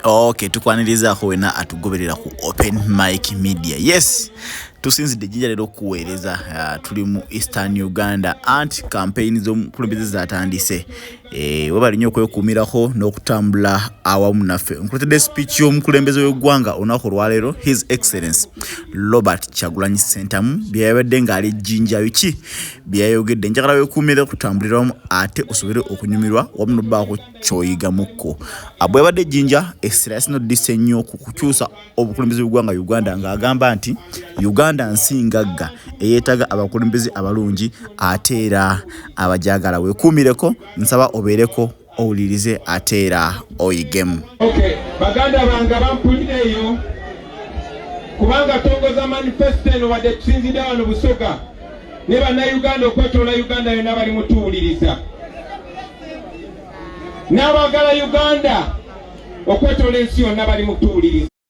ok tukwanirizaako wena atugoberera ku open mike media yes tusinzidde ejjinja leero okuweereza uh, tuli mu eastern uganda anti kampeyini z'omukulembeze zatandise eh, webali nnyo okwekuumirako n'okutambula awamu naffe nkuletedde speech y'omukulembeze w'eggwanga olunaku olwaleero his excellence robert kyagulanyi sentamu byeyabadde ng'ali jjinja biki byeyayogedde njagala wekuumire kutambulira wamu ate osobole okunyumirwa wamu nobaako kyoyigamukko abwebadde ejjinja essira yasinodisa ennyo ku kukyusa obukulembeze bwegwanga uganda ng'agamba nti uganda nsi ngagga eyeetaga abakulembeze abalungi ate era abajagala wekuumireko nsaba obeereko owulirize ate era oyigemu baganda bange abampulira eyo kubanga tongoza manifesto eno wadde tusinzidde wano busoga ne bannayuganda okwetoola uganda yonna bali mutuwuliriza n'abagala uganda okwetoola ensi yonna bali mutuwuliriza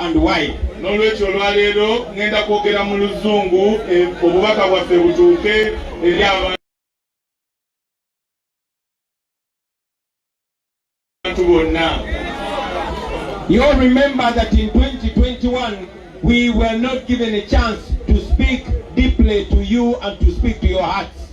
and why n'olwekyo olwaleero ngenda kwogera mu luzungu eh, obubaka bwaffe butuuke eri abantu bonna You all remember that in 2021 we were not given a chance to speak deeply to you and to speak to your hearts.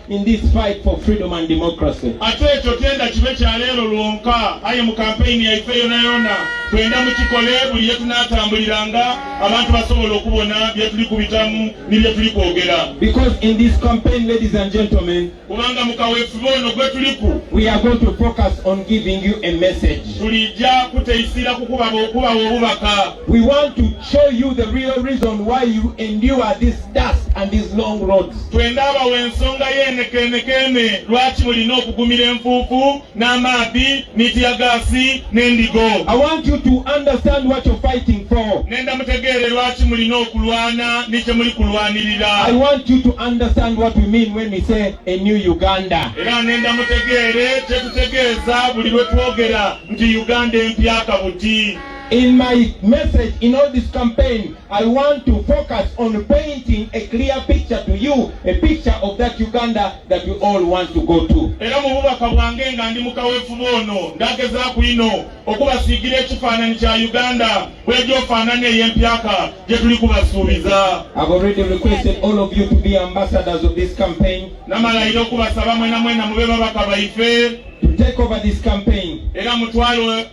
in this fight for freedom and democracy. Ate ekyo tenda kibe kya leero lwonka aye mu kampeyini yaife yona yona twenda mukikole buli ye tunatambuliranga abantu basobola okubona bye tuli kubitamu ni bye tuli kwogera. Because in this campaign ladies and gentlemen, kubanga mu kaweefube ono gwe tuliku, we are going to focus on giving you a message. Tulijja kuteisira kukubawa obubaka We want to show you the real reason why you endure this dust and these long roads. Twendaba wensonga yenekenekene lwaki mulina okugumira enfuufu n'amaadhi n'itya gaasi n'endigo. I want you to understand what you're fighting for. Nenda mutegeere lwaki mulina okulwana ni kye muli kulwanirira. I want you to understand what we mean when we say a new Uganda. Era nenda mutegeere kye tutegeeza buli lwe twogera nti Uganda empya kabuti. In my message in all this campaign, I want to focus on painting a clear picture to you, a picture of that Uganda that you all want to go to. Era mu bubaka bwange nga ndi mu kaweefube ono ndagezaako ino okubasiigira ekifaananyi kya Uganda bwegyofaanana ey'empyaka gye tuli kubasuubiza. I've already requested all of you to be ambassadors of this campaign. Namalayira okubasaba mwena mwena mube babaka baife. To take over this campaign. Era mutwalo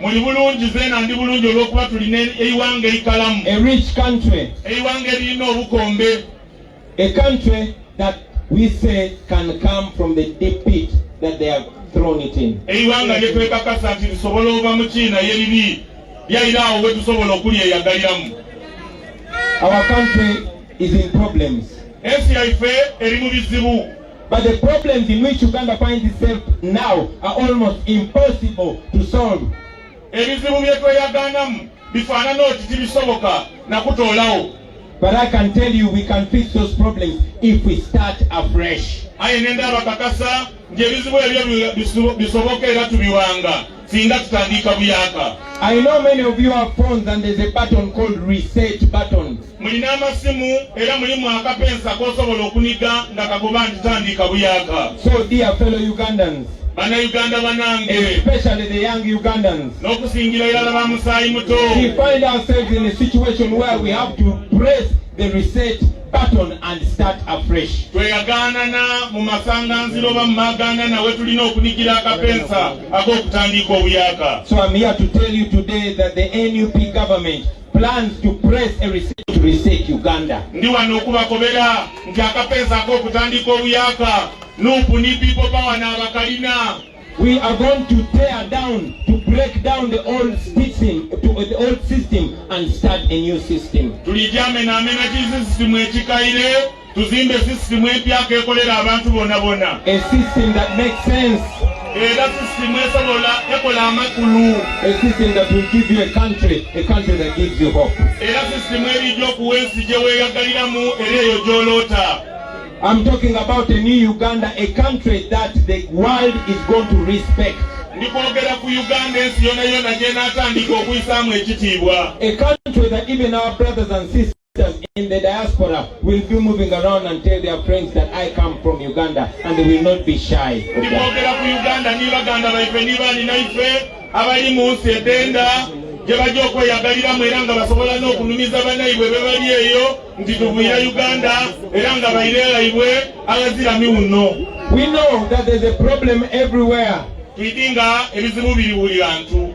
muli bulungi zeena ndi bulungi olw'okuba tulina eiwanga eikalamu a rich country eiwanga eririna obukombe a country that we say can come from the deep pit that they have thrown it in eiwanga lye twekakasa nti lisobola ova mu kiina ye liri lyaira awo we tusobola okulyeyagaliramu our country is in problems ensi yaife eri mu bizibu But the problems in which Uganda finds itself now are almost impossible to solve. Ebizibu bye tweyaganamu bifaanana oti tibisoboka na kutoolawo. But I can tell you we can fix those problems if we start afresh. Aye nenda abakakasa nti ebizibu ebyo bisoboka era tubiwanga. singa tutandiika buyaka I know many of you have phones and there's a button called reset button. Mulina amasimu era mulimu akapensa kosobola okuniga nga kagoba nti tandiika buyaka. So dear fellow Ugandans, bannayuganda banange especially the young ugandans n'okusingira irala ba musaayi muto we find ourselves in a situation where we have to press the reset button and start afresh tweyaganana mu masanganziro oba mu maganana we tulina okunigira akapensa So I'm here to tell you today that the NUP government plans to press a reset to reset Uganda. Ndi wano kubakobera nti akapeesa ak'okutandika obuyaka nup ni people power n'abakalina we are going to tear down to break down the old system to uh, the old system and start a new system tulijamenamena kisisitimu ekikaire tuzimbe sisitimu empyako ekolera abantu bona bona era sisitimu esobola ekola amakulu era sisitimu erijja okuwa ensi gye weeyagaliramu era eyo gy'oloota I'm talking about a new Uganda, a country that the world is going to respect. A country that even our brothers and sisters in the diaspora will be moving around and tell their friends that I come from Uganda and they will not be shy. abali mu nsi edenda gye bajja okweyagaliramu era nga basobola n'okunumiza banaibwe be bali eyo nti tuvuyira uganda era nga bairelaibwe abazirami wuno we know that there's a problem everywhere tuidinga ebizibu biri buli bantu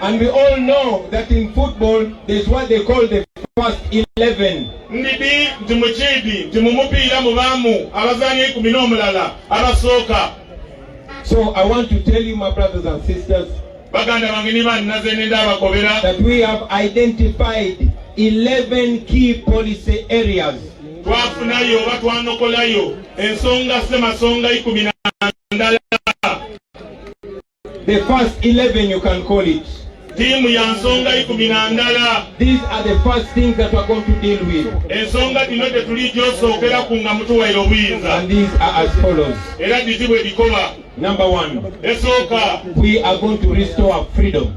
And we all know that in football there's what they call the first 11. Ndidi nti mukiidi nti mu mupiira mubaamu abazaanyi ekumi n'omulala abasooka. So I want to tell you my brothers and sisters baganda bange ne bannaze nenda abakobera that we have identified 11 key policy areas twafunayo oba twanokolayo ensonga semasonga ikumi na ndala The first 11 you can call it. Tiimu ya nsonga ikumi na ndala. These are the first things that we are going to deal with. Ensonga dino tetuli gyosookera ku nga mutuwaire obuyinza. And these are as follows. Era dizibwe dikoba. Number one. Esooka. We are going to restore freedom.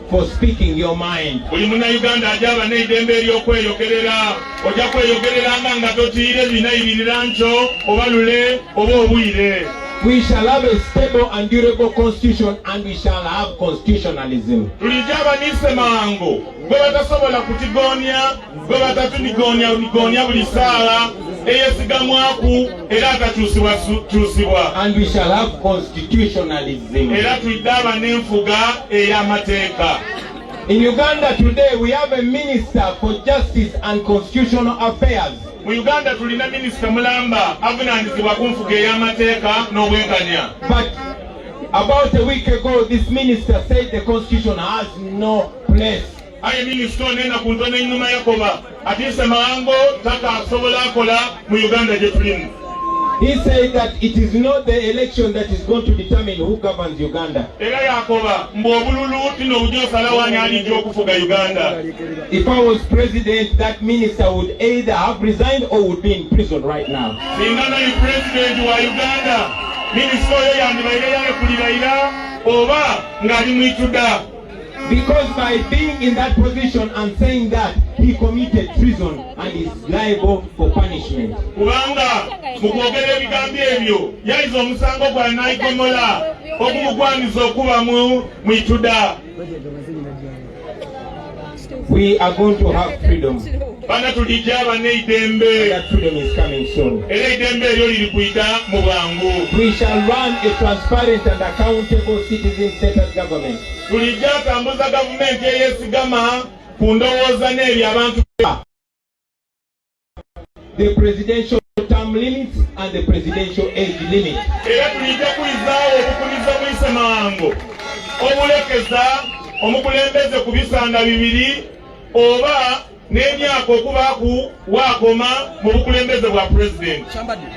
for speaking your mind. Buli munnayuganda agyaba n'eddembe ery'okweyogerera ojja kweyogereranga nga totiire binayirira nkyo oba lule oba obwire. We shall have a stable and durable constitution and we shall have constitutionalism. Tulijja abanise mangu gwe batasobola kutigoonya gwe batatuligonyaligonya buli saala eyesigamwaku era atakyusibwakyusibwa era tulidde aba n'enfuga ey'amateeka In Uganda today we have a minister for justice and constitutional affairs. Mu Uganda tulina minister mulamba avunaanyizibwa ku nfuga ey'amateeka n'obwenkanya. But about a week ago this minister said the constitution has no place aye minisita onena ku ntono enuma yakoba ati nsemawango taka asobola akola mu uganda gye tulimu He said that it is not the election that is going to determine who governs Uganda. If I was president, that minister would either have resigned or would be in prison right now. Because by being in that position and saying that he committed treason and is liable for punishment. Kubanga mu kwogera ebigambo ebyo yayize omusango gwa nayigomola ogumugwanyiza okuba mu ituda. We are going to have freedom. Bana tulija abana eidembe. That freedom is coming soon. Era eidembe eryo liri kuyita mu bwangu. We shall run a transparent and accountable citizen-centered government. Tulija atambuza gavumenti eyesigama ku ndowooza n'ebyo abantu the presidential term limits and the presidential age limit. Era tulija kulizaawo obukuliza buyise mangu obulekeza omukulembeze ku bisanda bibiri oba n'emyaka okuba ku waakoma mu bukulembeze bwa pulezidenti.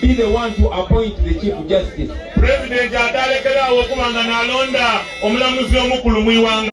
be the one to appoint the chief justice president atalekerawo okuba nga nalonda omulamuzi omukulu mu iwanga